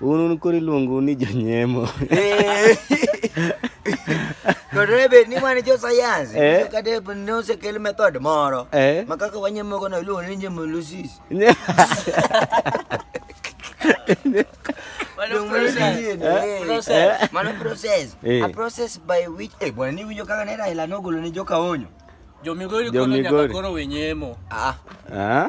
Un un koro iluongo ni jonyemo. Eh. To debe ni wan jo sayansi, Eh. kata ne osekel method moro Eh. ma kaka wanyemogo no iluongo ni nyemolysis. Mano process. Eh. Process. Mano process. Eh. A process by which eh bwana ni winjo kaka ne Raila nogolo ne joka onyo. Jo Migori Jo kono nyaka Migori. koro wenyemo. Ah. Ah?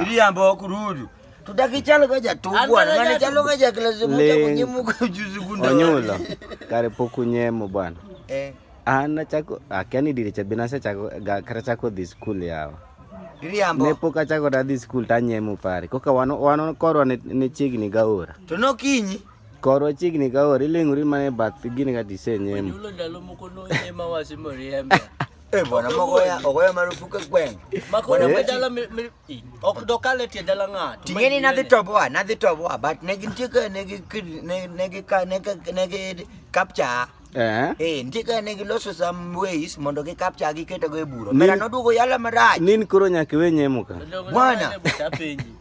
iriambo kurudu tudakichalo ka jatuo bwana ngani chalo ka jaklasi muta kunyemuka ujuzi kunda onyula kare pok unyemo bwana eh an achako akia ni dire cha binase chako kare chako dhi skul yawa Riambo. Ne pok achako da dhi skul to anyemo pare. Koka wano wano korwa ne, ne chiegni gaora. To nokinyi. Korwa chiegni gaora iling'ori mana e bath gini kata isenyemo. Onyulo ndalo moko nonyema wasimoriembe. Eh bwana magoya ogoya marufuka kweng. Makoya eh. medala ok dokale tie dala ng'ato. Tingeni na dhi toboa na dhi toboa but ne gintie ka ne gi ne gi ka ne ka ne gi capture. Eh. Eh, nitie ka ne giloso some ways mondo gi capture gi keto go e buro. Mera noduogo yala marach. Nin koro nyaka we nyemo ka. Bwana.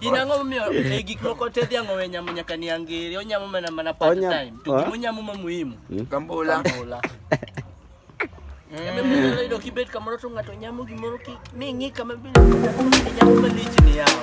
inang'o momiyo e gik moko te dhiang' owe nyamo nyaka ni angiri onyamo mana mana part time to gima onyamo ma muhimu kambula kambula Iyudo kibet kamoro to ng'ato nyamo gimoro ki mi ng'i kama bile nyamo malich ni yawa.